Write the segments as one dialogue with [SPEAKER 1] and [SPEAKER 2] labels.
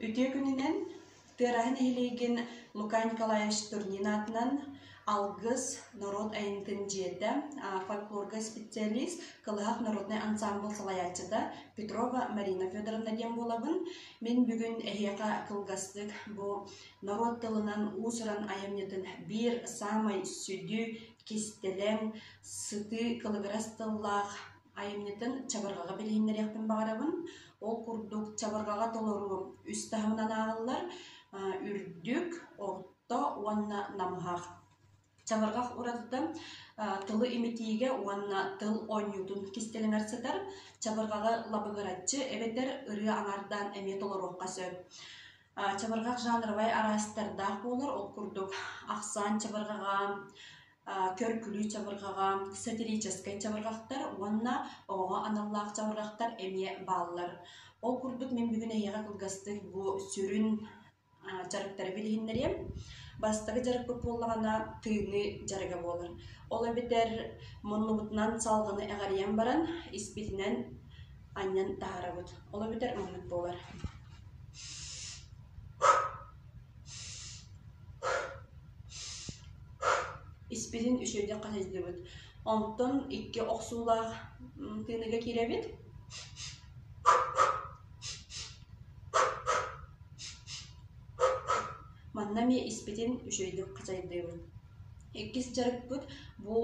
[SPEAKER 1] Үтүө күнүнэн Тыараһа нэһилиэгин Лукань Николаевич Турнин аатынан алгыс норуот айымньытын дьиэтэ фольклорга специалист, кылыһах народнай ансаамбыл салайааччыта Петрова Марина Федоровна диэн буолабын. Мин бүгүн эһиэхэ кылгастык бу норуот тылынан уус-уран айымньытын биир саамай сүдүү кистэлэҥ, сытыы, кылыгырас тыллаах айымньытын чабырҕаҕа билиһиннэриэхпин баҕарабын. Ол курдук чабырҕаҕа толору үс таһымынан ааҕыллар: үрдүк, орто уонна намыһах. Чабырҕах уратыта тылы имитиигэ уонна тыл оонньуутун кистэлэҥэр сытар, чабырҕаҕы лабыгыраччы эбэтэр ырыа аҥардаан эмиэ толоруохха сөп. Чабырҕах жанровай араастардаах буолар, ол курдук ахсаан чабырҕаҕа, көр-күлүү чабырҕаҕа, сатирическай чабырҕахтар уонна оҕоҕо аналлаах чабырҕахтар эмиэ бааллар. Ол курдук мин бүгүн эйиэхэ кылгастык бу сүрүн дьарыктары билиһиннэриэм. Бастакы дьарыкпыт буоллаҕына тыыны дьарыга буолар. Ол эбэтэр муннубутунан салгыны эҕэрийэн баран, испитинэн анньан таһаарабыт оло бүтэр мамык буолар испитин үчүгэйдик хасыдьдыбыт онтон икки охсуулаах тыыныга киирэбит манна эмиэ испитин үчүгэйдик хачайдыыбын иккис дьарыкпыт бу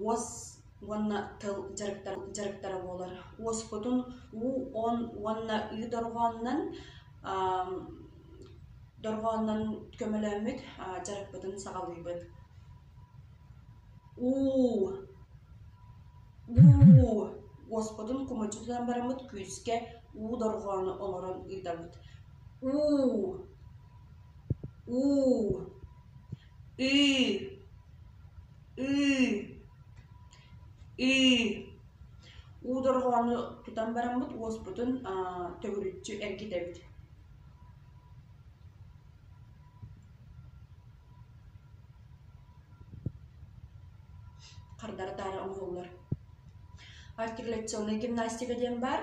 [SPEAKER 1] уос уонна тыл дьарыктар дьарыктара буолар. Уоскутун уу он уонна ыы дорҕоонунан дорҕоонунан көмөлөөммүт дьарыкпытын саҕалыыбыт. Уу уу уоскутун кумаччы тутан бараммыт күүскэ уу дорҕоону оҥорон ыытабыт. Уу уу ыы ыы ыы уудурҕоону тутан бараммыт уоспутун төгүрүччү эргитэбит хардары-таары оҥоһуллар артиллационнай гимнастика диэн баар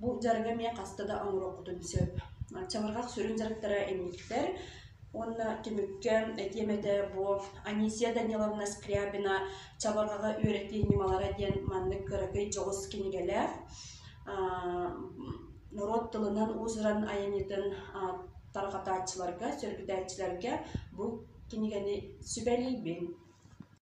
[SPEAKER 1] Бу дьарыгы эмиэ хаста да оҥоруоххутун сөп. Чаҥырҕах сүрүн дьарыктара инниктэр уонна түмүккэ этиэм этэ бу Анисия Даниловна Скрябина «Чабырҕаҕа үөрэтии ньымалара» диэн маннык кыракый дьоҕус кинигэлээх. Норуот тылынан уус-уран айанньытын тарҕатааччыларга, сөргүтээччилэргэ бу кинигэни сүбэлиибин.